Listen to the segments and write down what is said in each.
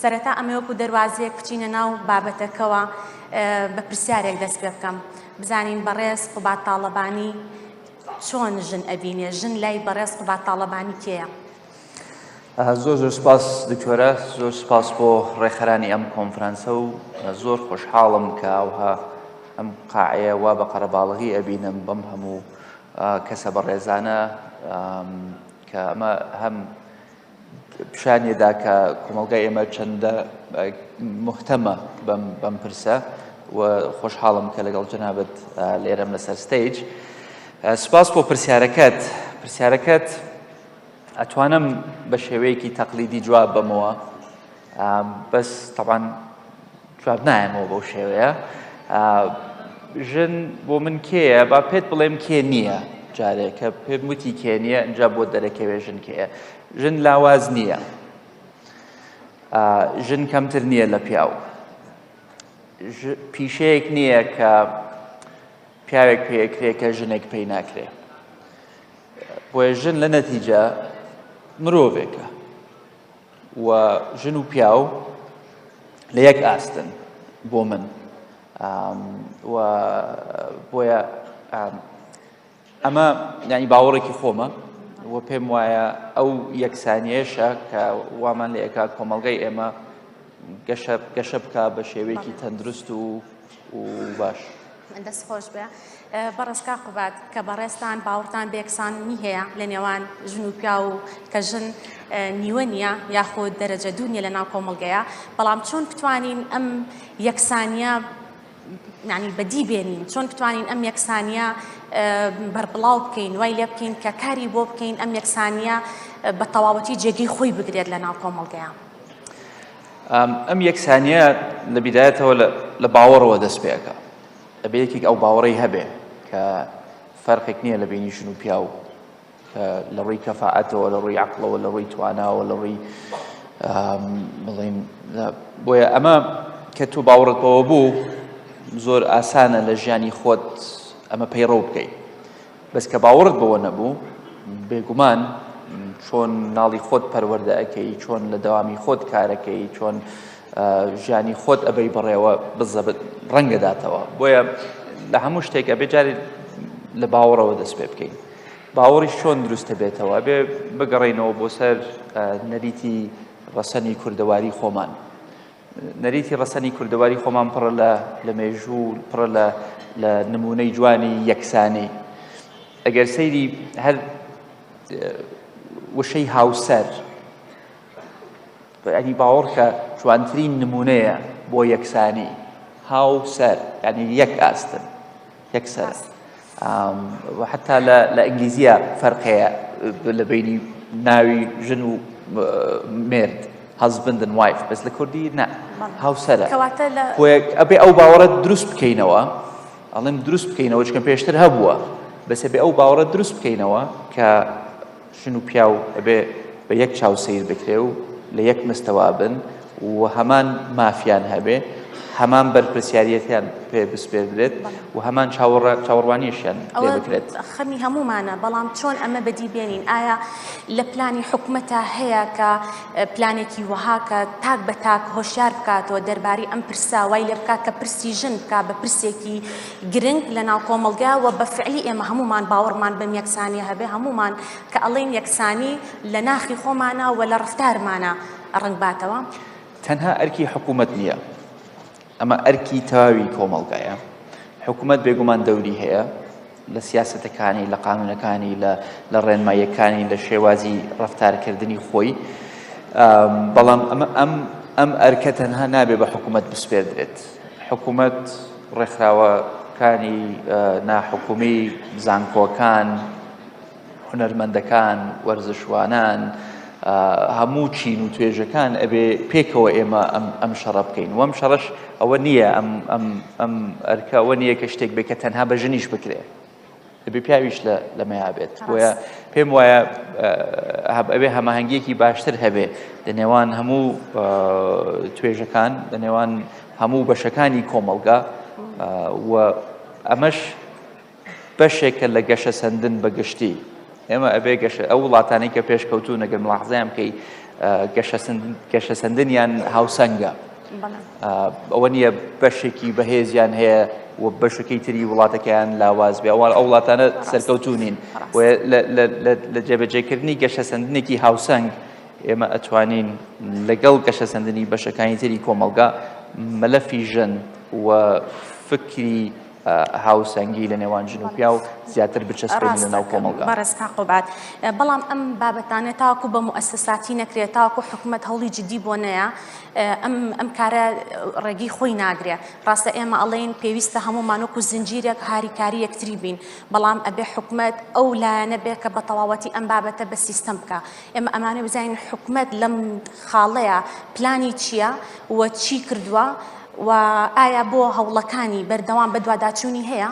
سەرەتا ئەمە وەکو دەواازەیەک بچینە ناو بابەتەکەەوە بە پرسیارێک دەست پێ بکەم بزانین بەڕێز قوبات تاالبانی چۆن ژن ئەبینێ ژن لای بەڕێز قوبات تاالبانی کێە زۆر زۆر سپاس دکتۆرە زۆر سپاس بۆ ڕێکخەرانی ئەم کۆنفرانسە و زۆر خۆشحاڵم کە ئەوها ئەم قاعەیە وا بە قەرەباڵغی ئەبینم بەم هەموو کەسە بەڕێزانە کە ئەمە هەم پیشانێدا کە کۆمەڵگای ئێمە چەندە محتەمە بەم پرسە و خۆشحاڵم کە لەگەڵ جەنابەت لێرەم لەسەر ستەیج سپاس بۆ پرسیارەکەت پرسیارەکەت ئەتوانم بە شێوەیەکی تەقلیدی جواب بەمەوە بەس تەبان جواب نایەمەوە بەو شێوەیە ژن بۆ من کێیە با پێت بڵێم کێ نییە جارێک کە پێم وتی کێ نییە ئەجا بۆ دەرەکەوێ ژن کێیە ژن لاواز نییە ژن کەمتر نییە لە پیاو پیشەیەک نییە کە پیاوێک پێکرێ کە ژنێک پێی ناکرێ بۆیە ژن لە نەتیجە مرۆڤێکە و ژن و پیاو لە یەک ئاستن بۆ من و بۆیە ئەمە ینی باوەڕێکی خۆمە و پێم وایە ئەو یەکسانیەشە کە وامان لە ئێکات کۆمەلگای ئێمە گەشە گەشە بکە بە شێوەیەکی تەندروست و باش. دەست خۆش بێ بەڕێز کا قوباد کە بەڕێزتان باوەڕتان بێکسانی هەیە لە نێوان ژن و پیا و کە ژن نیوە نییە یاخود دەرەجە دوو نیە لە ناو کۆمەڵگەیە بەڵام چۆن بتوانین ئەم یەکسانیە ینی بەدی بێنین چۆن بتوانین ئەم یەکسانیە بەربڵاو بکەین وای لێ بکەین کە کاری بۆ بکەین ئەم یەکسانیە بە تەواوەتی جێگەی خۆی بگرێت لە ناو کۆمەڵگەیە. ئەم یەکسانیە لە بیدایەتەوە لە باوەڕەوە دەست پێەکە ئەبێ یەکێک ئەو باوەڕی هەبێ کە فەرقێک نییە لە بینی ژن و پیاو لە ڕووی کەفاعەتەوە لە ڕووی عقلەوە لە ڕووی تواناوە لە ڕووی بڵین بۆیە ئەمە کە تو باوەڕت بەوە بوو زۆر ئاسانە لە ژیانی خۆت ئەمە پەیڕە بکەیت بەس کە باوەڕت بەوە نەبوو بێگومان چۆن ناڵی خۆت پەروەەردە ئەەکەی چۆن لە داوامی خۆت کارەکەی چۆن ژیانی خۆت ئەبەی بڕێوە بزەبت ڕەنگەداتەوە بۆیە لە هەموو شتێک ئەبێ جارێت لە باوەڕەوە دەست پێ بکەین باوەڕی چۆن دروستە بێتەوە بێ بگەڕینەوە بۆ سەر نەریتی ڕەسەنی کوردەواری خۆمان نەریتی ڕەسەنی کوردەواری خۆمان پڕە لە لە مێژوو پڕە لە لە نمونەی جوانی یەکسانی ئەگەر سەیری هەر وشەی هاوسەر ینی باوەڕکە جوانترین نمونەیە بۆ یەکسانی هاوسەر ینی یەک ئاستن یەکسەر و حتا لە ئینگلیزیە فەرقەیە لە بینی ناوی ژن و مرد هەزبندن وایف بەس لە کوردی نە هاوسەرە ئەبێ ئەو باوەڕەت دروست بکەینەوە ئەڵێم دروست بکەینەوە چکە پێشتر هەبووە بەسەبێ ئەو باوەڕە دروست بکەینەوە کە ژن و پیاو ئەبێ بە یەک چاو سەیر بکرێ و لە یەک مستەوا بن و هەمان مافیان هەبێ هەمان بەرپرسیارەتیان پێ بسپێردرێت و هەمان چاوەڕوانیشیان پێ بکرێت خەمی هەمومانە بەڵام چۆن ئەمە بەدی بێنین ئایا لە پلانی حکومەتە هەیە کە پلانێکی وەهاکە تاک بە تاک هۆشیار بکاتەوە دەرباری ئەم پرساوای لێ بکات کە پرسی ژن بک بە پرسێکی گرنگ لە ناو کۆمەڵگا وە بە فعلی ئێمە هەموومان باوەڕمان بەم یەکسانیە هەبێ هەموومان کە ئەڵێین یەکسانی لە ناخی خۆمانە وە لە ڕفتارمانە ڕەنگ باتەوە. تەنها ئەرکی حکومەت نیە ئەمە ئەرکی تەواوی کۆمەڵگایە حکومەت بێگومان دەوری هەیە لە سیاسەتەکانی لە قانونەکانی لە لە ڕێنماییەکانی لە شێوازی ڕفتارکردنی خۆی بەڵام ئەمە ئەم ئەم ئەرکە تەنها نابێ بە حکومەت بسپێردرێت حکومەت، ڕێکخراوەکانی ناحکومی، زانکۆکان، هونەرمەندەکان، وەرزشوانان، هەموو چین و توێژەکان ئەبێ پێکەوە ئێمە ئەم شەڕە بکەین وەم شەڕش ئەوە نییە ئەم ئەرکە ئەوە نییە کە شتێک بێ کە تەنها بە ژنیش بکرێت. دەبێ پیاویش لە لەمەیا بێت بۆیە پێم وایە ئەبێ هەماهنگگیەکی باشتر هەبێ لە نێوان هەموو توێژەکان لە نێوان هەموو بەشەکانی کۆمەلگا و ئەمەش بەشێکە لە گەشە سندن بە گشتی ئێمە ئەبێ گەشە ئەو وڵاتانی کە پێشکەوتو نەگەر ملاحزیان بکەی گەشە سندنیان هاوسەنگە ئەوە نییە بەشێکی بەهێزیان هەیە و بەشەکەی تری وڵاتەکەیان لاواز بێ ئەوان ئەو وڵاتانە سەرکەوتونین لە جێبەجێکردنی گەشە سندنێکی هاوسەنگ ئێمە ئەتوانین لەگەڵ گەشە سندنی بەشەکانی تری کۆمەلگا مەلەفی ژن و فکری هاوسەنگی لە نێوان ژن و پیاو زیاتر بچەسپێنە ناو کۆمەڵگا بەڕێزکان قوبات بەڵام ئەم بابەتانە تاکو بە موەسساتی نەکرێت تاکو حکوومەت هەوڵی جددی بۆ نەیە ئەم ئەم کارە ڕێگەی خۆی ناگرێ ڕاستە ئێمە ئەڵێن پێویستە هەموومانۆک و زنجیرێک هاریکاری یەکتری بین بەڵام ئەبێ حکوومەت ئەو لایەنە بێ کە بە تەواوەتی ئەم بابەتە بە سیستەم بکە ئێمە ئەمانە بزانین حکوومەت لەم خاڵەیە پلانی چییە و چی کردووە؟ و ئایا بۆ هەوڵەکانی بەردەوام بەدواداچوونی هەیە؟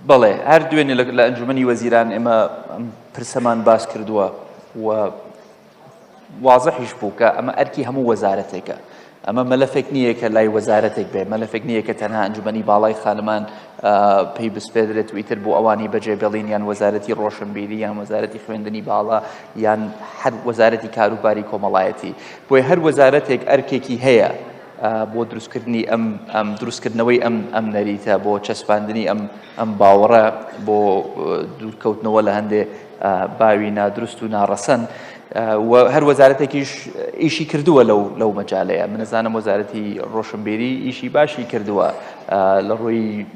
بەڵێ، هەر دوێنێ لە ئەنجوومەنی وەزیران ئێمە ئەم پرسەمان باس کردووە و وازحیش بوو کە ئەمە ئەرکی هەموو وەزارەتێکە. ئەمە مەلەفێک نییە کە لای وەزارەتێک بێ مەلەفێک نییە کە تەنها ئەنجومەنی باڵای خانمان پێی بسپێدرێت ویتر بۆ ئەوانی بەجێ بێڵین یان وەزارەتی ڕۆشنبیری یان وەزارەتی خوێندنی باڵا یان هەر وەزارەتی کاروباری کۆمەڵایەتی بۆی هەر وەزارەتێک ئەرکێکی هەیە بۆ دروستکردنی ئەم ئەم دروستکردنەوەی ئەم ئەم نەریتە بۆ چەسپاندنی ئەم ئەم باوەڕە بۆ دوورکەوتنەوە لە هەندێ باوی نادروست و ناڕەسەن و هەر وەزارەتێکیش ئیشی کردووە لەو لەو مەجالەیە منەزانم وەزارەتی ڕۆشنبیری ئیشی باشی کردووە لە ڕووی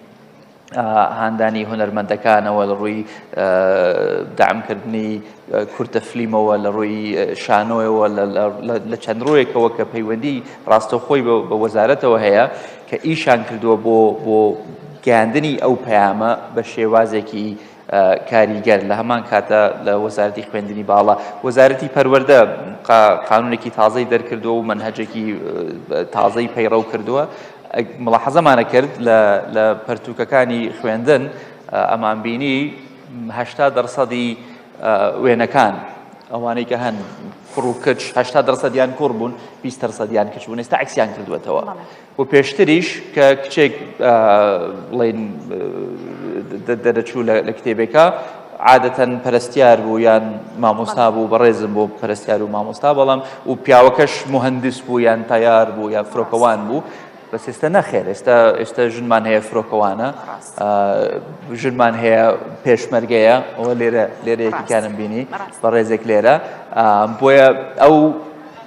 هاندانی هونەرمەندەکانەوە لە ڕووی دامکردنی کورتە فلیمەوە لە ڕووی شانۆیەوە لە چەند ڕوویەکەوە کە پەیوەندی ڕاستەخۆی بە وەزارەتەوە هەیە کە ئیشان کردووە بۆ بۆ گەاندنی ئەو پەیامە بە شێوازێکی کاریگەر، لە هەمان کاتدا لە وەزارەتی خوێندنی باڵا، وەزارەتی پەروەردە قانونێکی تازەی دەرکردووە و مەنهەجێکی تازەی پەیڕەو کردووە مڵاحەزەمانە کرد لە پەرتوکەکانی خوێندن ئەمان بینی هەشتا دەرسەدی وێنەکان ئەوانەی کە هەن کوڕ و کچ هەشتا دەرسەدیان کوڕ بوون بیست دەرسەدیان کچ بوون ئێستا عکسیان کردوێتەوە و پێشتریش کە کچێک بڵین دەرەچوو لە کتێبێکە عادەتەن پەرستیار بوو یان مامۆستا بوو بەڕێزم بۆ پەرستیار و مامۆستا بەڵام و پیاوەکەش مهندس بوو یان تیار بوو یا فرۆکەوان بوو بەس ئێستا نەخێر ئێستا ئێستا ژنمان هەیە فرۆکەوانە ژنمان هەیە پێشمەرگەیە ئەوە لێرە لێرە یەکیکانم بینی بەڕێزێک لێرە بۆیە ئەو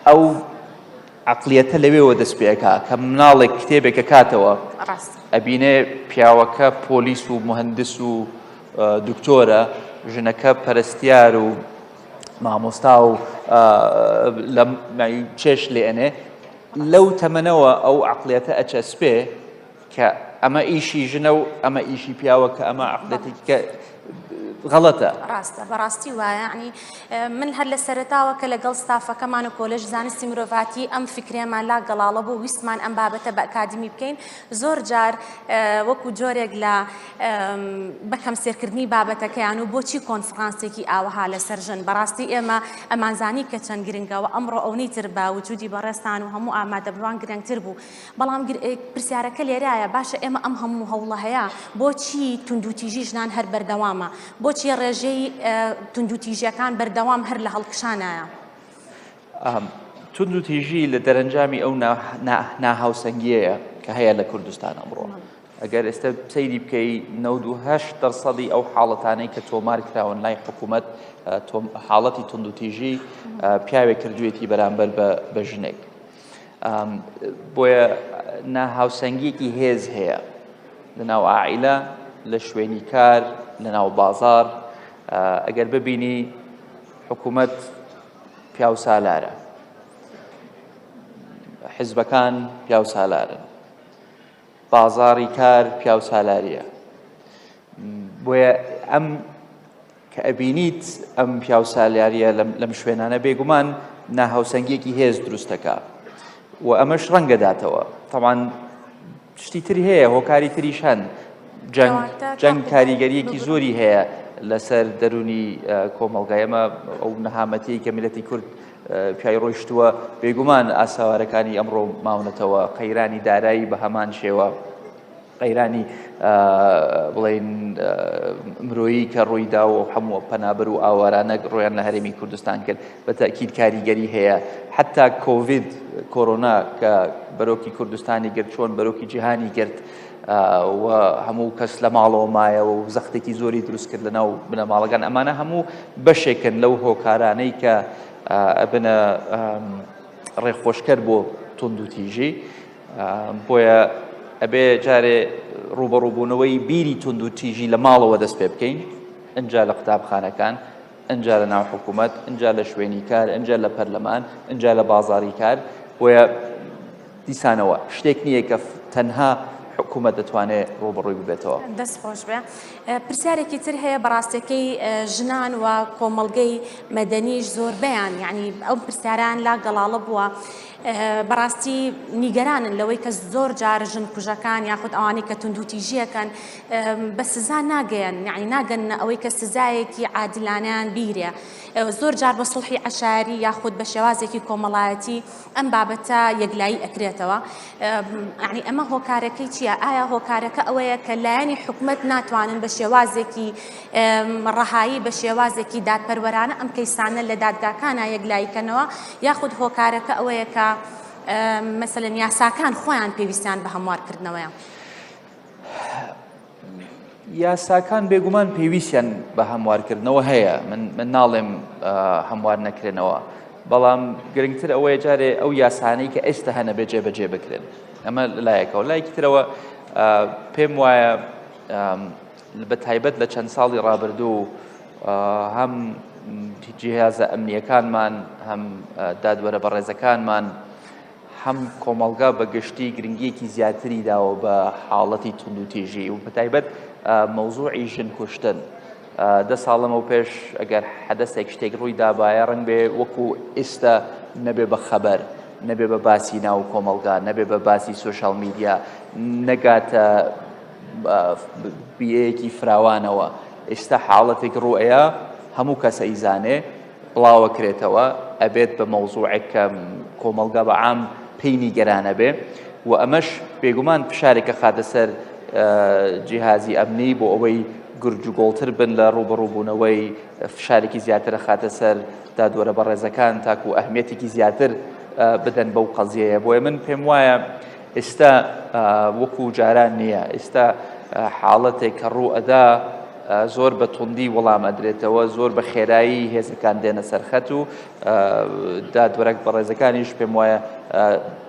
ئەو عەقڵیەتە لەوێوە دەست پێئەکا کە مناڵێک کتێبێک ئەکاتەوە ئەبینێ پیاوەکە پۆلیس و مهندس و دکتۆرە ژنەکە پەرستیار و مامۆستا و لە چێش لێنێ لەو تەمەنەوە ئەو عقلەتە ئەچەسپێ کە ئەمە ئیشی ژنە و ئەمە ئیشی پیاوە کە ئەمە عقدەتی کە غەڵەتە ڕاستە بەڕاستی وایەعنی من هەر لە سەرتاوە کە لەگەڵ ستافەکەمان و کۆلژ زانستی مرۆڤاتی ئەم فکرێمان لا گەڵاڵە بۆ ویستمان ئەم بابەتە بە ئەکادمی بکەین زۆر جار وەکو جۆرێک لە بەکەم سێرکردنی بابەتەکەیان و بۆچی کۆنفرانسێکی ئاوها لە سەرژن بەڕاستی ئێمە ئەمانزانی کە چەند گرنگەوە ئەمڕۆ ئەونی تر بە وجودی بەڕێستان و هەموو ئامادەبووان گرنگتر بوو بەڵام پرسیارەکە لێرایە باشە ئێمە ئەم هەموو هەوڵە هەیە بۆچی توندوتیژی ژنان هەر بەردەوامە بۆچی ڕێژەی توندوتیژەکان بەردەوام هەر لە هەڵکشانایە توندوتیژی لە دەرەنجامی ئەو ناهاوسەنگیەیە کە هەیە لە کوردستان ئەمڕۆ ئەگەر ئێستا سەیری بکەی 98 دەرسەدی ئەو حاڵەتانەی کە تۆمار کراون لای حکوومەت حاڵەتی توندوتیژی پیاوێک کردوێتی بەرامبەر بە ژنێک بۆیە ناهاوسەنگیەکی هێز هەیە لەناو ئائیلە لە شوێنی کار لەناو بازار ئەگەر ببینی حکوومەت پیاو سالارە حزبەکان پیاو سالارن بازاری کار پیاو سالاریە بۆیە ئەم کە ئەبینیت ئەم پیاو سالیاریە لەم شوێنانە بێگومان ناهاوسەنگیەکی هێز دروستەکە و ئەمەش ڕەنگەداتەوە تەوان شتی تر هەیە هۆکاری تریش هەن جەنگ جەنگ کاریگەریەکی زۆری هەیە لەسەر دەرونی کۆمەلگایەمە ئەو نەهامەتی کە میلەتی کورد پیای ڕۆیشتووە بێگومان ئاساوارەکانی ئەمڕۆ ماونەتەوە قەیرانی دارایی بە هەمان شێوە قەیرانی بڵێن مرۆیی کە ڕوویدا و هەموو پەنابەر و ئاوارانە ڕۆیان لە هەرێمی کوردستان کرد بە تاکیید کاریگەری هەیە حتا کۆڤید کۆرۆنا کە بەرۆکی کوردستانی گرت چۆن بەرۆکی جیهانی گرت و هەموو کەس لە ماڵەوە مایەوە و زەختێکی زۆری دروست کرد لە ناو بنەماڵەکان ئەمانە هەموو بەشێکن لەو هۆکارانەی کە ئەبنە ڕێخۆشکەر بۆ تونند و تیژی بۆیە ئەبێ جارێ ڕووبەڕووبوونەوەی بیری توند و تیژی لە ماڵەوە دەست پێ بکەین ئەجا لە قوتابخانەکان ئەجا لە ناو حکوومەت ئەجا لە شوێنی کار ئەجا لە پەرلەمان ئەجا لە بازاری کار بۆیە دیسانەوە شتێک نییە کە تەنها حکوومەت دەتوانێت ڕوبڕووی ببێتەوە دەست خۆش بێ پرسیارێکی تر هەیە بەڕاستەکەی ژنان و کۆمەڵگەی مەدەنیش زۆربیان یعنی ئەو پرسیاران لا گەڵاڵە بووە بەڕاستی نیگەرانن لەوەی کە زۆر جار ژن کوژەکان یاخود ئەوانەی کە توندوتیژیەکەن بە سزا ناگەیەن نعی ناگەن ئەوەی کە سزایەکی عادلانیان بیرێ زۆر جار بە سڵحی عشاری یاخود بە شێوازێکی کۆمەڵایەتی ئەم بابەتە یەکلایی ئەکرێتەوە عنی ئەمە هۆکارەکەی چییە ئایا هۆکارەکە ئەوەیە کە لایەنی حکومت ناتوانن بە شێوازێکی ڕەهایی بە شێوازێکی دادپەروەرانە ئەم کەیسانە لە دادگاکانە یەکلاییکەنەوە یاخود هۆکارەکە ئەوەیە کە مەسەن یاساکان خۆیان پێویستیان بە هەموارکردنەوەیە. یاساکان بێگومان پێویستیان بە هەموارکردنەوە هەیە من من ناڵێم هەموار نەکرێنەوە بەڵام گرنگتر ئەوەیە جارێ ئەو یاسانەی کە ئێستا هەنە بێجێ بەجێ بکرێن ئەمە لایەکەوە لایەکی ترەوە پێم وایە بە تایبەت لە چەند ساڵی ڕابردوو هەم جیهازە ئەمنیەکانمان هەم دادوەرە بەڕێزەکانمان هەم کۆمەڵگا بە گشتی گرنگیەکی زیاتری داوە بە حاڵەتی توندوتیژی و بەتایبەت مەوزوعی ژن کوشتن دە ساڵەمە و پێش ئەگەر حەدەسێک شتێک ڕووی دابایە ڕنگ بێ وەکو ئێستا نەبێ بە خەبەر نەبێ بە باسی ناو کۆمەڵگا نەبێ بە باسی سوۆشال میدیا نەگاتە بە بیەیەکی فراوانەوە ئێستا حاڵەتێک ڕوئەیە هەموو کەس ئەیزانێ بڵاوە کرێتەوە ئەبێت بە مەوزوعێک کە کۆمەلگا بە عام پێی نیگەرانە بێ و ئەمەش بێگومان فشارێکە خاتە سەر جیهازی ئەمنی بۆ ئەوەی گرج و گۆڵتر بن لە ڕوبەڕوبوونەوەی فشارێکی زیاترە خاتە سەر دادوەرە بەڕێزەکان تاکو ئەهمیەتێکی زیاتر بدەن بەو قەزیەیە بۆیە من پێم وایە ئیستا وەکو جاران نییە ئیستا حاڵەتێک کە ڕوو ئەدا زۆر بە توندی وەڵام ئەدرێتەوە زۆر بە خێرایی هێزەکان دێنە سەرخەت و دادوەرەك بەڕێزەکانیش پێم وایە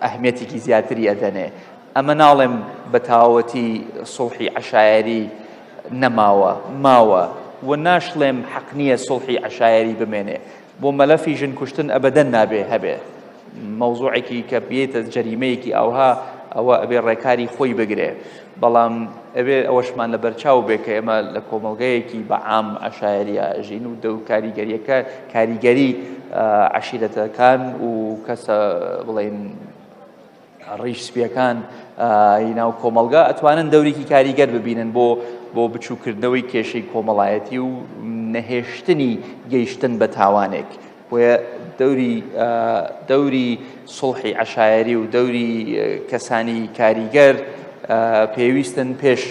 ئەهمێتێکی زیاتری ئەدەنێ ئەمە ناڵێم بە تاوەتی سڵحی عشایری نەماوە ماوە و ناشڵێم حەق نییە سڵحی عشایری بمێنێ بۆ مەلەفی ژن کوشتن ئەبەدەن نابێ هەبێ مەوزوعێکی کە بێتە جەریمەیەکی ئاوها ئەوە ئەبێ ڕێکاری خۆی بگرێ بەڵام ئەوێ ئەوەشمان لە بەرچاو بێ کە ئێمە لە کۆمەلگەیەکی بە عام عشاعریە ژین و دەو کاریگەریەکە کاریگەری عشیرەتەکان و کەسە بڵین ڕیش سپیەکان ی ناو کۆمەڵگا ئەتوانن دەورێکی کاریگەر ببینن بۆ بۆ بچووکردنەوەی کێشەی کۆمەڵایەتی و نەهێشتنی گەیشتن بە تاوانێک بۆیە دەوری دەوری سڵحی عشایری و دەوری کەسانی کاریگەر پێویستن پێش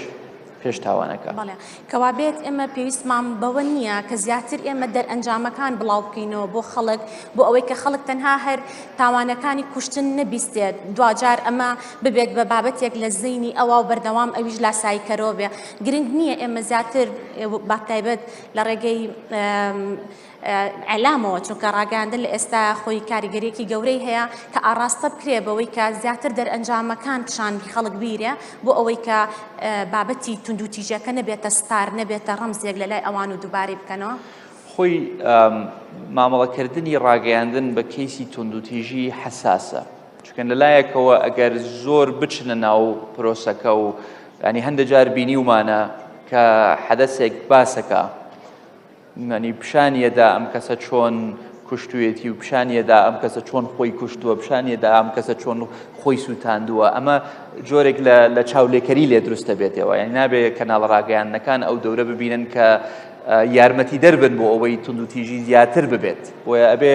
پێش تاوانەکە. بەڵێ کەوابێت ئێمە پێویستمان بەوە نییە کە زیاتر ئێمە دەرئەنجامەکان بڵاو بکەینەوە بۆ خەڵک بۆ ئەوەی کە خەڵک تەنها هەر تاوانەکانی کوشتن نەبیستێت دواجار ئەمە ببێت بە بابەتێک لە زینی ئەوە و بەردەوام ئەویش لاسایی کەرەوە بێ گرنگ نییە ئێمە زیاتر باتایبەت لە ڕێگەی ئیعلامەوە، چونکە ڕاگەیاندن لە ئێستا خۆی کاریگەریەکی گەورەی هەیە کە ئاڕاستە بکرێ بەوەی کە زیاتر دەرئەنجامەکان پیشان خەڵک بیرێ بۆ ئەوەی کە بابەتی توندوتیژەکە نەبێتە ستار نەبێتە ڕەمزێک لە لای ئەوان و دووبارەی بکەنەوە. خۆی مامەڵەکردنی ڕاگەیاندن بە کەیسی توندوتیژی حساسە چکەن لەلایەکەوە ئەگەر زۆر بچنە ناو پرۆسەکە و ینی هەندە جار بینیومانە کە حەدەسێک باسەکە یانی پیشانی ئەدا ئەم کەسە چۆن کوشتوێتی و پیشانی ئەدا ئەم کەسە چۆن خۆی کوشتووە پیشانی ئەدا ئەم کەسە چۆن خۆی سووتاندووە ئەمە جۆرێک لە چاولێکەری لێ دروستە بێتەوە یان نابێ کەناڵ ڕاگەیاندنەکان ئەو دەورە ببینن کە یارمەتی دەربن بۆ ئەوەی توندوتیژی زیاتر ببێت بۆیە ئەبێ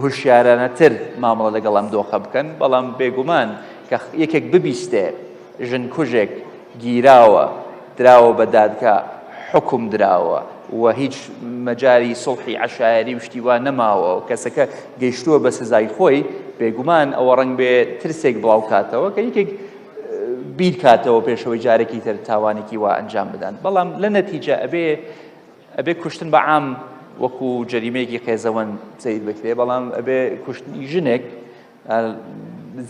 هوشیارانەتر مامەڵە لەگەڵ ئەم دۆخە بکەن بەڵام بێگومان کە یەکێک ببیستێ ژن کوژێک گیراوە دراوە بە دادگا حوکم دراوە و هیچ مەجاری سڵحی عشایری و شتی وا نەماوە و کەسەکە گەیشتووە بە سزای خۆی بێگومان ئەوە ڕنگ بێ ترسێک بڵاو کاتەوە کە یەکێک بیر کاتەوە پێشەوەی جارێکی تر تاوانێکی وا ئەنجام بدەن بەڵام لە نەتیجە ئەبێ ئەبێ کوشتن بە عام وەکو جەریمەیەکی قێزەوەن سیر بکرێ بەڵام ئەبێ کوشتنی ژنێک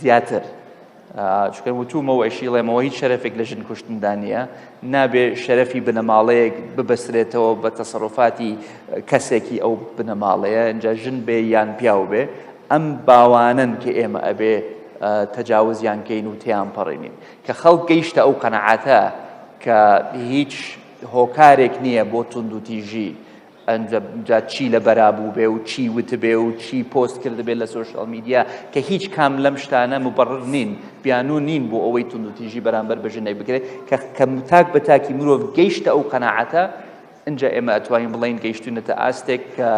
زیاتر چکە وتومەوە ئەشیڵێمەوە هیچ شەرفێک لە ژن کوشتندا نییە نابێ شەرفی بنەماڵەیەک ببەسرێتەوە بە تەسەڕفاتی کەسێکی ئەو بنەماڵەیە ئەجا ژن بێ یان پیاو بێ ئەم باوانن کە ئێمە ئەبێ تەجاوزیان کەین و تیان پەڕێنین کە خەڵک گەیشتە ئەو قەنەعاتە کە هیچ هۆکارێک نییە بۆ توندوتیژی ئەنجا جا چی لە بەرا بووبێ و چی وتبێ و چی پۆست کردبێ لە سۆشیال میدیا کە هیچ کام لەم شتانە مبڕر نین بیانوو نین بۆ ئەوەی توندوتیژی بەرامبەر بە ژنێک بکرێت کە کە تاک بە تاکی مرۆڤ گەیشتە ئەو قەناعەتە ئینجا ئێمە ئەتوانین بڵین گەیشتوینەتە ئاستێک کە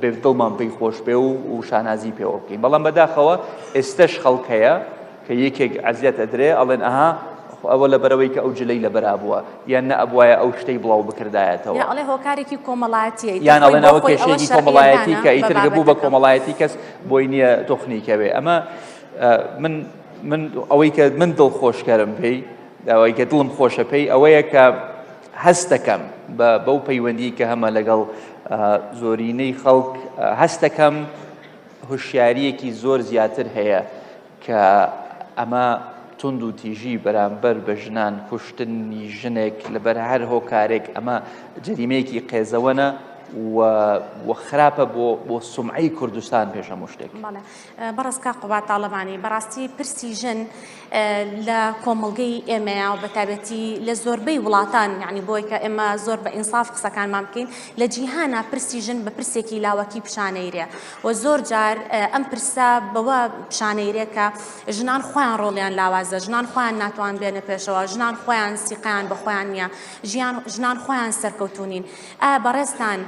بێ دڵمان پێی خۆش بێ و و شانازی پێوە بکەین بەڵام بەداخەوە ئێستش خەڵکەیە کە یەکێک عەزیەت ئەدرێ ئەڵێن ئەها ئەوە لە بەرەوەی کە ئەو جلەی لە بەرابووە یان نە ئەبواە ئەو شتەی بڵاو بکردایەتەوە ئەڵێ هۆکارێکی کۆمەڵایەتیە یان ئەڵێنەوە کێشێکی کۆمەڵایەتی کە ئیترگە بوو بە کۆمەڵایەتی کەس بۆی نییە تۆخنی کەوێ ئەمە من من ئەوەی کە من دڵ خۆشکەرم پێی ئەوەی کە دڵم خۆشە پێی ئەوەیە کە هەستەکەم بە بەو پەیوەندی کە هەمە لەگەڵ زۆرینەی خەڵک هەستەکەم هوشیاریەکی زۆر زیاتر هەیە کە ئەمە توند و تیژی بەرامبەر بە ژنان کوشتنی ژنێک لەبەر هەر هۆکارێک ئەمە جەریمەیەکی قێزەوەنە و خراپە بۆ بۆ سمعی کوردستان پێشە مشتێک بەڕستکە قوبات تاالبانی بەڕاستی پرسی ژن لە کۆمەلگەی ئێمەیە و بەتابەتی لە زۆربەی وڵاتان یعنی بۆی کە ئێمە زۆر بە ئینساف قسەکانمان بکەین لە جیهانا پرسی ژن بە پرسێکی لاوەکی پیشانەیرێ وە زۆر جار ئەم پرسە بەوە پیشانەیرێ کە ژنان خۆیان ڕۆڵیان لاوازە ژنان خۆیان ناتوان بێنە پێشەوە ژنان خۆیان سیقیان بە خۆیان نییە ژیان ژنان خۆیان سەرکەوتونین ئا بەڕێستان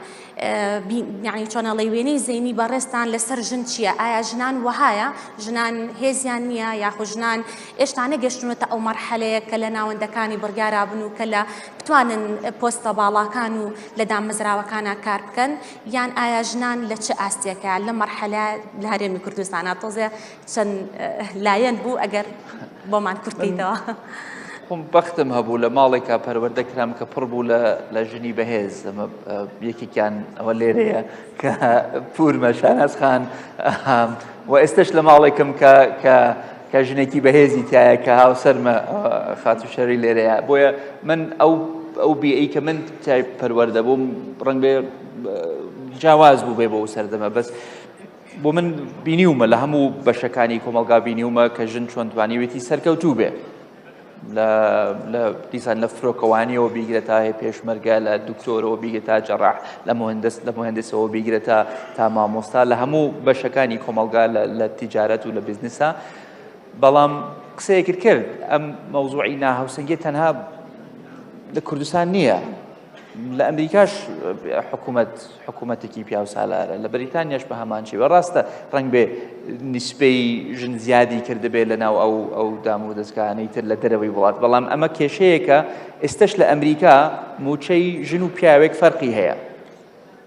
یعنی چۆنەڵی وێنەی زەینی بەڕێستان لەسەر ژن چییە ئایا ژنان وەهایە ژنان هێزیان نییە یاخو ژنان ئێشتانە گەشتونەتە ئەو مەرحەلەیە کە لە ناوەندەکانی بڕیارابن و کە لە بتوانن پۆستە باڵاکان و لە دامەزراوەکانە کار بکەن یان ئایا ژنان لە چ ئاستێکە لە مەرحەلە لە هەرێمی کوردستانە تۆزێ چەند لایەن بوو ئەگەر بۆمان کورتیتەوە. خۆم بەختم هەبوو لە ماڵێکا پەروەردە کرام کە پڕ بوو لە ژنی بەهێز ئەمە یەکێکیان ئەوە لێرەیە کە پورمە شانازخان و ئێستش لە ماڵێکم کە کە ژنێکی بەهێزی تایە کە هاوسەرمە خاتو شەری لێرەیە بۆیە من ئەو ئەو بیئی کە من تای پەروەەردە بووم ڕەنگێ جیاواز بوو بێ بۆ ئەو سەردەمە بەس بۆ من بینیومە لە هەموو بەشەکانی کۆمەلگا بینیومە کە ژن چۆن توانیوێتی سەرکەوتوو بێ لە دیسان لە فرۆکەوانیەوە بیگرە تا هەیە پێشمەرگە لە دکتۆرەوە بیگە تا جەڕاح لە مهندست لە مهندسەوە بیگرە تا تا مامۆستا لە هەموو بەشەکانی کۆمەلگا لە تیجارەت و لە بزنسە بەڵام قسەیەکرد کرد ئەم مەوزوعی ناهاوسنگی تەنها لە کوردستان نییە لە ئەمریکاش حکوومەت حکوومەتێکی پیاوسالارە لە بەریتانیاش بە هەمان شێوە ڕاستە ڕنگ بێ نیسپەی ژن زیادی کردبێت لە ناو ئەو ئەو دام و دەستکانەی تر لە دەرەوەی وڵات بەڵام ئەمە کێشەیەکە ئێستش لە ئەمریکا موچەی ژن و پیاوێک فەرقی هەیە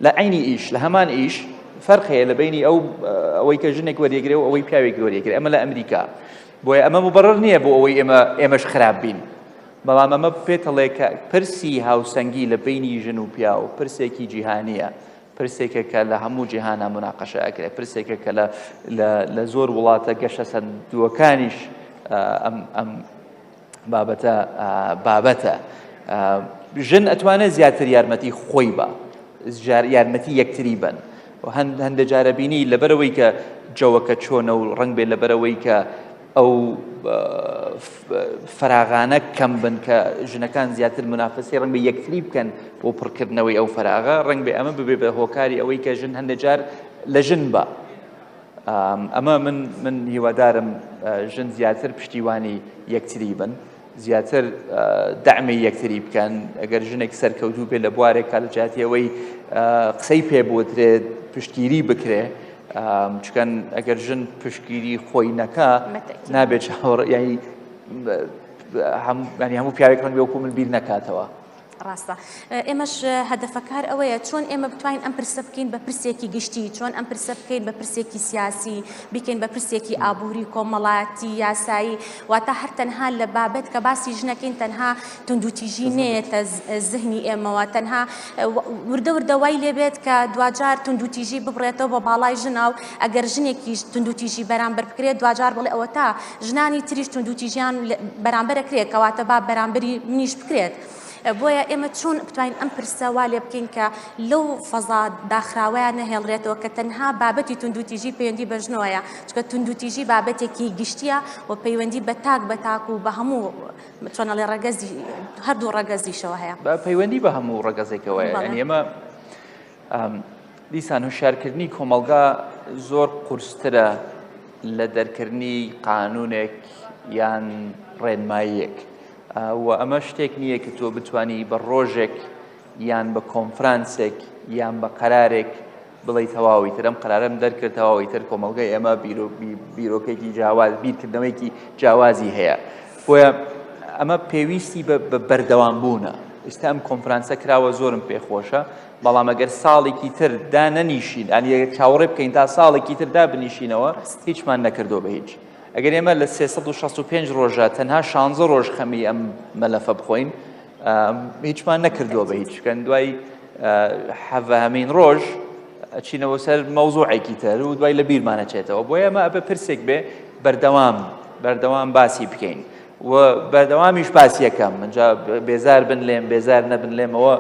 لە عینی ئیش لە هەمان ئیش فەرق هەیە لە بینی ئەو ئەوەی کە ژنێک وەرێگرێ و ئەوەی پیاوێک وەرێگرێ ئەمە لە ئەمریکا بۆیە ئەمە مبڕر نییە بۆ ئەوەی ئێمە ئێمەش خراپ بین بەڵام ئەمە پێتەڵێ کە پرسی هاوسەنگی لە بینی ژن و پیاو پرسێکی جیهانیە پرسێکە کە لە هەموو جیهانە مناقەشە ئەکرێت پرسێکە کە لە زۆر وڵاتە گەشە سەندووەکانیش ئەم ئەم بابەتە بابەتە ژن ئەتوانێت زیاتر یارمەتی خۆی بە یارمەتی یەکتری بن هەندێک جارەبینی لەبەرەوەی کە جەوەکە چۆنە و ڕنگ بێ لەبەرەوەی کە ئەو فەراغانە کەم بن کە ژنەکان زیاتر منافسی ڕنگ بە یەکتری بکەن بۆ پڕکردنەوەی ئەو فەراغە ڕنگ بێ ئەمە ببێ بە هۆکاری ئەوەی کە ژن هەندێک جار لە ژن بە ئەمە من من هیوادارم ژن زیاتر پشتیوانی یەکتری بن زیاتر دەعمی یەکتری بکەن ئەگەر ژنێک سەرکەوتوو بێت لە بوارێکا لە جیاتی ئەوەی قسەی پێ بۆترێت پشتگیری بکرێ چکەن ئەگەر ژن پشتگیری خۆی نەکە نابێت چاوەڕ ینی هەموو پیاوێک ڕەنگی وەکو من بیر نەکاتەوە. ڕاستە ئێمەش هەدەفەکار ئەوەیە چۆن ئێمە بتوانین ئەم پرسە بکەین بە پرسێکی گشتی چۆن ئەم پرسە بکەین بە پرسێکی سیاسی بکەین بە پرسێکی ئابووری کۆمەڵاتی یاسایی واتە هەر تەنها لە بابەت کە باسی ژنەکەین تەنها توندوتیژی نێتە زهنی ئێمەوە تەنها وردە وردەوای لێبێت کە دوجار توندوتیژی ببڕێتەوە بە باڵای ژنا و ئەگەر ژنێکیش توندوتیژی بەرامبەر بکرێت دوجار بڵێ ئەوە تا ژنانی تریش توندوتیژیان بەرامبەرە کرێت کەواتە با بەرامبەری منیش بکرێت. بۆیە ئێمە چۆن بتوانین ئەم پرسە وا لێ بکەین کە لەو فەزا داخراوەیان نەهێڵرێتەوە کە تەنها بابەتی توندوتیژی پەیوەندی بە ژنۆیە چکە توندوتیژی بابەتێکی گشتیە و پەیوەندی بە تاک بە تاک و بە هەموو چۆنەڵێ ڕەگەزی هەردوو ڕەگەزیشەوە هەیە بە پەیوەندی بە هەموو ڕەگەزێکەوەیە ئێمە دیسان هوشارکردنی کۆمەلگا زۆر قورسترە لە دەرکردنی قانونێک یان ڕێنماییەک و ئەمە شتێک نییە کە تۆ بتانی بە ڕۆژێک یان بە کۆنفرانسێک یان بە قەرارێک بڵێ تەواوی ترم قرارم دەرکرد تەواوی تر کۆمەلگای ئێمە بیرۆکێکی جیاواز بیرکردنەوەیکی جیاوازی هەیە بۆیە ئەمە پێویستی بە بەردەوام بوونە ئستا ئەم کۆنفرانسە کراوە زۆرم پێخۆشە بەڵام ئەگەر ساڵێکی تر دا نەنیشین ئەنیە چاوەڕێ بکەین تا ساڵێکی تر دا بنیشینەوە هیچمان نەکردو بە هیچ ئەگەر ئێمە لە 365 ڕۆژە تەنها شانزە ڕۆژ خەمی ئەم مەلەفە بخۆین هیچمان نەکردووە بە هیچکەن دوای حەڤەهمین ڕۆژ ئەچینەوە سەر مەوزوعێکی تر و دوای لە بیرمانەچێتەوە بۆ ئێمە ئەبێ پرسێک بێ بەردەوام بەردەوام باسی بکەین و بەردەوامیش باسیەکەم منجا بێزار بن لێم بێزار نەبن لێمەوە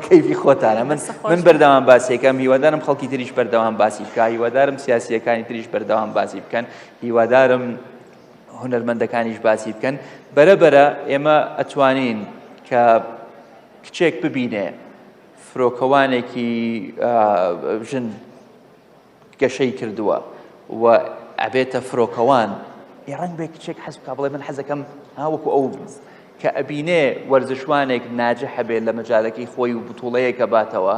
کەیفی خۆتانە من من بەردەوام باسیەکەم هیوادارم خەڵکی تریش بەردەوام باسی بکە هیوادارم سیاسیەکانی تریش بەردەوام باسی بکەن هیوادارم هونەرمەندەکانیش باسی بکەن بەرەبەرە ئێمە ئەتوانین کە کچێک ببینێ فرۆکەوانێکی ژن گەشەی کردووە و ئەبێتە فرۆکەوان ڕنگ بێ کچێک حەز بکە بڵێ من حەزەکەم هاوەکو ئەو کە ئەبینێ وەرزشوانێک ناجح هەبێت لە مەجارەکەی خۆی و بتوڵەیەکە باتەوە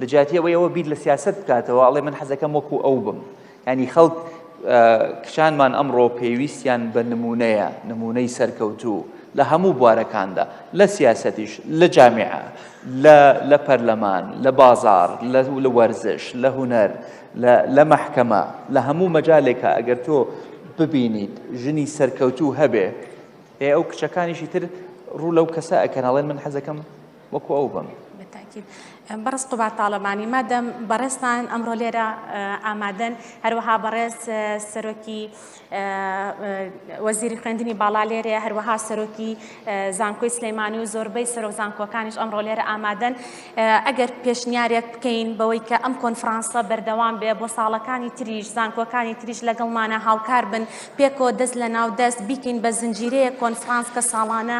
لە جاتیەوەی ئەوە بیر لە سیاست بکاتەوە ئەڵێ من حەزەکەم وەکو ئەو بم یانی خەڵک کچانمان ئەمڕۆ پێویستیان بە نمونەیە نمونەی سەرکەوتوو لە هەموو بوارەکاندا لە سیاسەتیش لە جامعە لە پەرلەمان لە بازار لە وەرزش لە هوەر لە مەحکەمە لە هەموو مەجالێکە ئەگەر تۆ ببینیت ژنی سەرکەوتوو هەبێ ئێ ئەو کچەکانیشی تر ڕوو لەو کەسە ئەکەناڵێن من حەزەکەم وەکو ئەو بم. بەتاکید بەڕست قوبار تاالبانی مادەم بەڕێستان ئەمڕۆ لێرە ئامادەن هەروەها بەڕێز سەرۆکی وەزیری خوێندنی باڵا لێرەیە هەروەها سەرۆکی زانکۆی سلەیمانی و زۆربەی سەرۆک زانکۆکانیش ئەمڕۆ لێرە ئامادەن ئەگەر پێشنیارێک بکەین بەوەی کە ئەم کۆنفرانسە بەردەوام بێ بۆ ساڵەکانی تریش زانکۆکانی تریش لەگەڵمانە هاوکار بن پێکەوە دەست لە ناو دەست بیکەین بە زنجیرەیە کۆنفرانس کە ساڵانە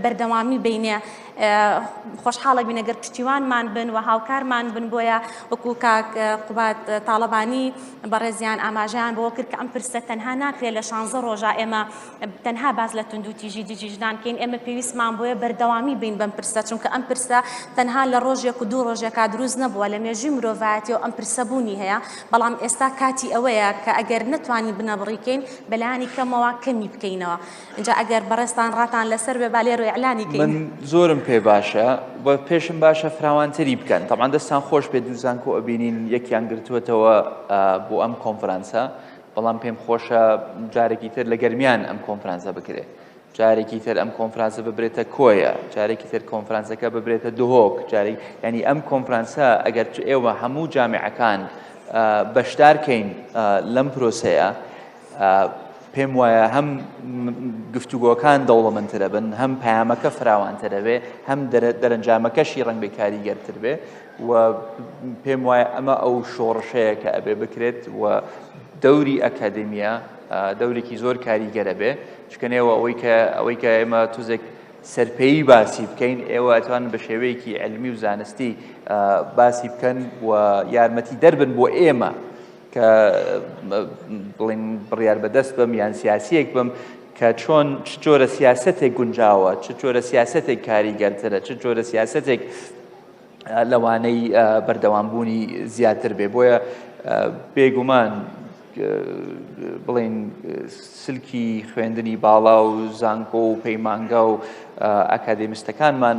بەردەوامی بینێ خۆشحاڵە بینە گەر پشتیوانمان بن و هاوکارمان بن بۆیە وەکو کاک قوبات تاالبانی بەڕێزیان ئاماژیان بۆ کرد کە ئەم پرسە تەنها ناکرێت لە شانزە ڕۆژە ئێمە تەنها باز لە تونند و تیژی دژیژدان کەین ئێمە پێویستمان بۆیە بەردەوامی بین بەم پرسە چونکە ئەم پرسە تەنها لە ڕۆژێک و دوو ڕۆژێکا دروست نەبووە لە مێژوی مرۆڤایەتی و ئەم پرسە بوونی هەیە بەڵام ئێستا کاتی ئەوەیە کە ئەگەر نتوانین بنەبڕیکەین بەلانی کەمەوە کەمی بکەینەوە ئینجا ئەگەر بەڕێزتان ڕاتان لەسەر بێ با لێرۆ ئیعلانی کەین. من زۆرم پێ باشە و پێشم باشە فراوانتری بکەن تەمان دەستان خۆش بێت دوو زانکۆ ئەبینین یەکیان گرتووەتەوە بۆ ئەم کۆنفرانسە بەڵام پێم خۆشە جارێکی تر لە گەرمیان ئەم کۆنفرانسە بکرێت جارێکی تر ئەم کۆنفرانسە ببرێتە کۆیە جارێکی تر کۆنفرانسەکە ببرێتە دهۆک جارێک ینی ئەم کۆنفرانسە ئەگەر ئێوە هەموو جامعەکان بەشدارکەین لەم پرۆسەیە پێم وایە هەم گفتوگۆکان دەوڵەمەندترە بن هەم پامەکە فراوانترەوێ هەم دەرەنجامەکەشی ڕنگ بێ کاریگەرتر بێ و پێم وایە ئەمە ئەو شۆڕشەیە کە ئەبێ بکرێت و دەوری ئەکادمیە دەورێکی زۆر کاریگەرە بێ چکەنەوە ئەوەی کە ئەوەی کە ئێمە توزێک سەرپێی باسی بکەین ئێوە ئەتوان بە شێوەیەکی ئەلمی و زانستی باسی بکەن و یارمەتی دەربن بۆ ئێمە کە بڵین بڕیار بەدەست بم یان سیاسیەک بم کە چۆن چ جۆرە سیاستێک گونجاوە چ جۆرە سیاستێک کاریگەرترە چ جۆرە سیاستێک لەوانەی بەردەوامبوونی زیاتر بێ بۆیە بێگومان بڵین سلکی خوێندنی باڵا و زانکۆ و پەیمانگا و ئاکادێمیستەکانمان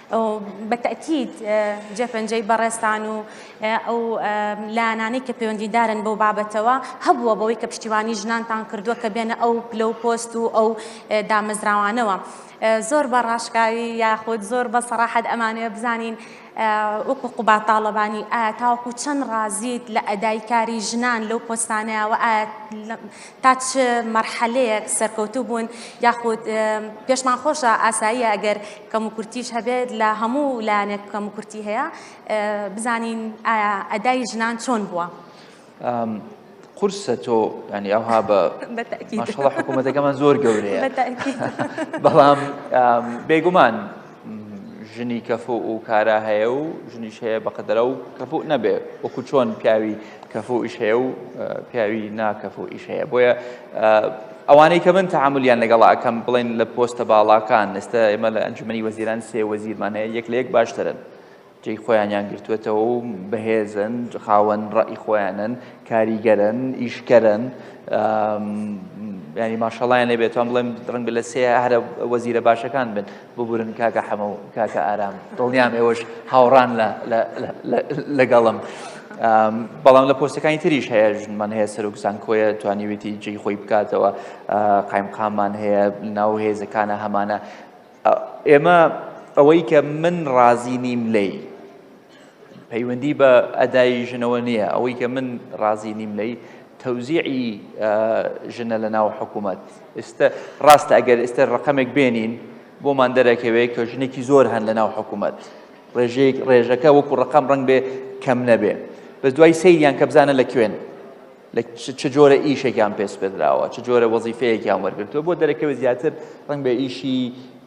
بە تەئکید جێپەنجەی بەڕێزتان و ئەو لایەنانەی کە پەیوەندیدارن بەو بابەتەوە هەبووە بەوەی کە پشتیوانی ژنانتان کردووە کە بێنە ئەو پلە و پۆست و ئەو دامەزراوانەوە زۆر بە ڕاشکاوی یاخود زۆر بە سەراحەت ئەمانەیە بزانین وەکو قوبا تاڵەبانی ئایا تاوەکو چەند ڕازیت لە ئەدای کاری ژنان لەو پۆستانەیەوە ئایا تا چ مەرحەلەیەک سەرکەوتوو بوون یاخود پێشمان خۆشە ئاساییە ئەگەر کەموکورتیش هەبێت لە هەموو لایەنێک کەموکورتی هەیە بزانین ئایا ئەدای ژنان چۆن بووە؟ قورسە تۆ ینی ئەوها بە ماشڵە حکوومەتەکەمان زۆر گەورەیە بەڵام بێگومان ژنی کەفۆ و کارا هەیە و ژنیش هەیە بەقدرە و کەفۆ نەبێ وەکو چۆن پیاوی کەفۆ ئیش هەیە و پیاوی ناکەفۆ ئیش هەیە بۆیە ئەوانەی کە من تەعامولیان لەگەڵ ئەکەم بڵێن لە پۆستە باڵاکان ئێستا ئێمە لە ئەنجومەنی وەزیران سێ وەزیرمان هەیە یەک لە یەک باشترن جێی خۆیانیان گرتوێتەوە و بەهێزن خاوەن ڕەئی خۆیانن کاریگەرن ئیشکەرن ینی ماشەڵیان لێبێتوان بڵێم ڕنگ لە سێ هەرە وەزیرە باشەکان بن ببورن کاکە حەمە و کاکە ئارام دڵنیام ئێوەش هاوڕان لەگەڵم بەڵام لە پۆستەکانی تریش هەیە ژنمان هەیە سەرۆک زانکۆیە توانیوێتی جێی خۆی بکاتەوە قایمقامان هەیە ناو هێزەکانە هەمانە ئێمە ئەوەی کە من ڕازی نیم لی پەیوەندی بە ئەدای ژنەوە نییە ئەوەی کە من ڕازی نیم لەی تەوزیعی ژنە لە ناو حکوومەت ئێستا ڕاستە ئەگەر ئێستا ڕقەمێک بێنین بۆمان دەرەکەوێت کە ژنێکی زۆر هەن لە ناو حکوومەت ڕێژەیەک ڕێژەکە وەکو ڕقام ڕنگ بێ کەم نەبێ بە دوای سەیریان کە بزانە لە کوێن لە چ جۆرە ئیشێکیان پێسپێدراوە چ جۆرە وەزیفەیەکیان وەرگرتووە بۆ دەرەکەوێت زیاتر ڕنگ بە ئیشی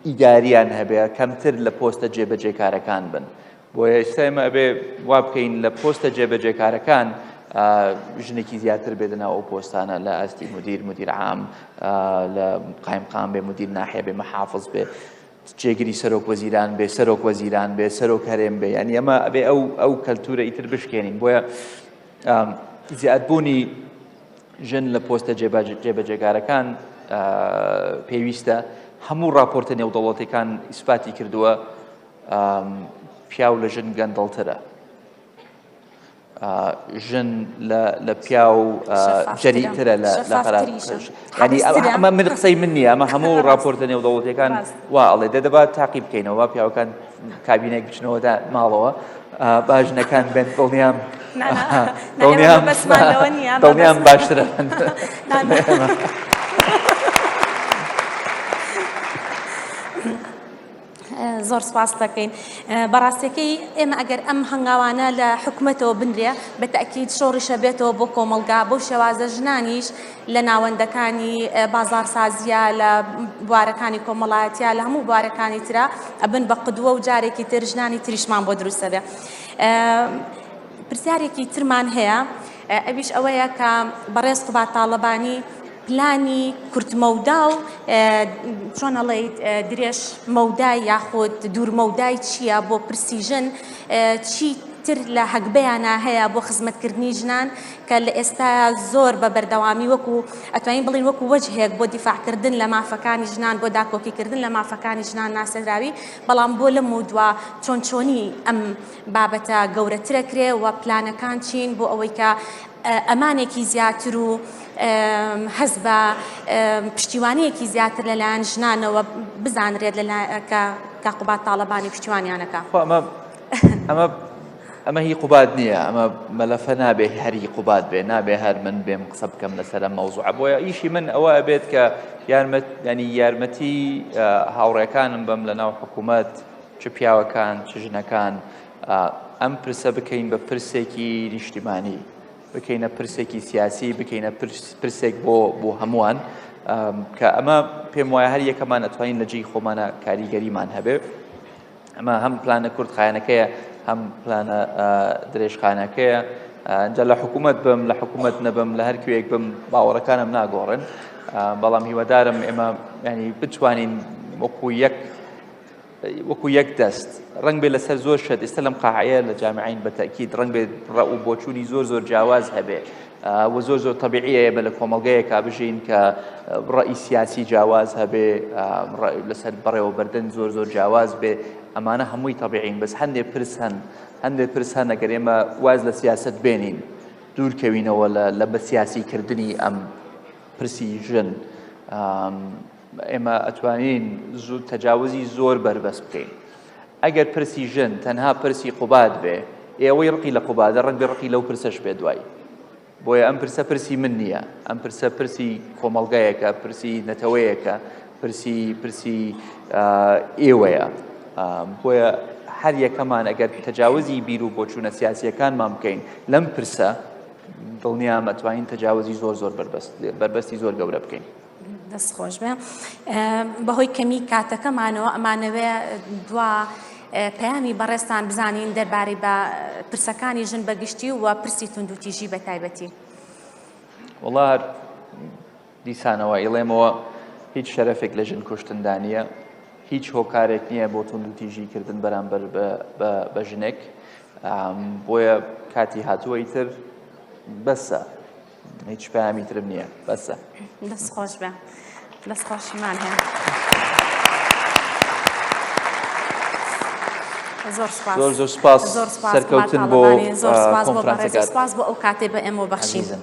ئیداریان هەبێ کەمتر لە پۆستە جێبەجێکارەکان بن بۆ ئێستا ئێمە ئەبێ وا بکەین لە پۆستە جێبەجێکارەکان ژنێکی زیاتر بێدنا ئەو پۆستانە لە ئاستی مدیر مدیر عام لە قایمقام بێ مدیر ناحێ بێ مەحافظ بێ جێگری سەرۆک وەزیران بێ سەرۆک وەزیران بێ سەرۆک هەرێم بێ ینی ئەمە ئەبێ ئەو ئەو کەلتورە ئیتر بشکێنین بۆیە زیادبوونی ژن لە پۆستە جێبەجێکارەکان پێویستە هەموو راپۆرتە نێودەوڵەتەکان ئیسپاتی کردووە پیاو لە ژن گەندەڵترە ژن لە پیا و جەریترە لە ئەمە من قسەی من نیە ئەمە هەموو راپۆرتە نێودەوڵەتەکان وا ئەڵێ دەدەبات تاقی بکەینەوە پیاوەکان کابینەک بچنەوە دا ماڵەوە با ژنەکان بێن دڵنیام دڵنیام باشترە زۆر سپاس دەکەین بەڕاستەکەی ئێمە ئەگەر ئەم هەنگاوانە لە حکوومەتەوە بنرێ بە تاکیید شۆڕیشە بێتەوە بۆ کۆمەلگا بۆ شێوازە ژنانیش لە ناوەندەکانی بازاڕسازییە، لە بوارەکانی کۆمەڵایەتییە، لە هەموو بوارەکانی ترا ئەبن بە قدوە و جارێکی تر ژنانی تریشمان بۆ دروست دەبێ. پرسیارێکی ترمان هەیە ئەویش ئەوەیە کە بەڕێز قوباد تاڵەبانی پلانی کورتمەودا و چۆن ئەڵێیت درێژ مەودای یاخود دوورمەودای چییە بۆ پرسی ژن چی تر لە هەگبەیانە هەیە بۆ خزمەتکردنی ژنان کە لە ئێستایا زۆر بە بەردەوامی وەکو ئەتوانین بڵێین وەکو وەجهێک بۆ دیفاعکردن لە مافەکانی ژنان بۆ داکۆکیکردن لە مافەکانی ژنان ناسێنراوی بەڵام بۆ لەم و دوا چۆن چۆنی ئەم بابەتە گەورەترە کرێ و پلانەکان چین بۆ ئەوەی کە ئەمانێکی زیاتر و هەز بە پشتیوانیەکی زیاتر لەلایەن ژنانەوە بزانرێت لە کە کاقوبات تاالبانی پشتیوانیانەکە خۆ ئەمە ئەمە ئەمە هی قوباد نییە ئەمە مەلەفە نابێ هەری قوباد بێ نابێ هەر من بێم قسە بکەم لەسەر مەوزوع بۆیە ئیشی من ئەوە بێت کە یارمەت ینی یارمەتی هاوڕێکانم بەم لە ناو حکوومەت چ پیاوەکان چ ژنەکان ئەم پرسە بکەین بە پرسێکی نیشتیمانی بکەینە پرسێکی سیاسی بکەینە پرسێک بۆ بۆ هەمووان کە ئەمە پێم وایە هەر یەکەمان ئەتوانین لە جێی خۆمانە کاریگەریمان هەبێت ئەمە هەم پلانە کورتخایەنەکەیە هەم پلانە درێژخانەکەیە جا لە حکوومەت بم لە حکوومەت نەبم لە هەر کوێک بم باوەڕەکانم ناگۆڕن بەڵام هیوادارم ئێمە ینی بتوانین وەکو یەک وەکو یەک دەست ڕنگ بێ لەسەر زۆر شت ئێستا لەم قاعەیە لە جامعین بە تاکیید ڕنگ بێت ڕە و بۆچوونی زۆر زۆر جیاواز هەبێ وە زۆر زۆر تەبیعیەیە بە لە کۆمەڵگەیەکا بژین کە ڕەئی سیاسی جیاواز هەبێ لەسەر بەڕێوەبردن زۆر زۆر جیاواز بێ ئەمانە هەمووی تەبیعین بەس هەندێ پرس هەن هەندێ پرس هەن ئەگەر ئێمە واز لە سیاست بێنین دوورکەوینەوە لە بە سیاسیکردنی ئەم پرسی ژن ئێمە ئەتوانین زوو تەجاوزی زۆر بەربەس بکەین ئەگەر پرسی ژن تەنها پرسی قوباد بێ ئێوەی ڕقی لە قوبادە ڕق بێ ڕقی لەو پرسەش بێ دوای بۆیە ئەم پرسە پرسی من نییە ئەم پرسە پرسی کۆمەلگایەکە پرسی نەتەوەیەکە پرسی پرسی ئێوەیە بۆیە هەر یەکەمان ئەگەر تەجاوزی بیر و بۆچوونە سیاسیەکانمان بکەین لەم پرسە دڵنیامەتوانین تەجاوزی زۆر زۆر بەربەستی زۆر گەورە بکەین دەست خۆش بێ بەهۆی کەمی کاتەکەمانەوە ئەمانەوێ دوا پەیامی بەڕێستان بزانین دەربارەی بە پرسەکانی ژن بەگشتی و پرسی توندوتیژی بە تایبەتی وڵا دیسانەوە ئیڵێمەوە هیچ شەرەفێک لە ژن کوشتندا نییە هیچ هۆکارێک نییە بۆ توندوتیژی کردن بەرامبەر بە ژنێک بۆیە کاتی هاتووەی تر بەسە هیچ پامی ترم نییە بەسە دەست خۆش بە دەست خۆشمان هەیە زۆر زۆر زۆر سپاس زۆر سەرکەوتن بۆ زۆر سپاس بۆ ئەو کاتێ بە ئێمە بەخشیزن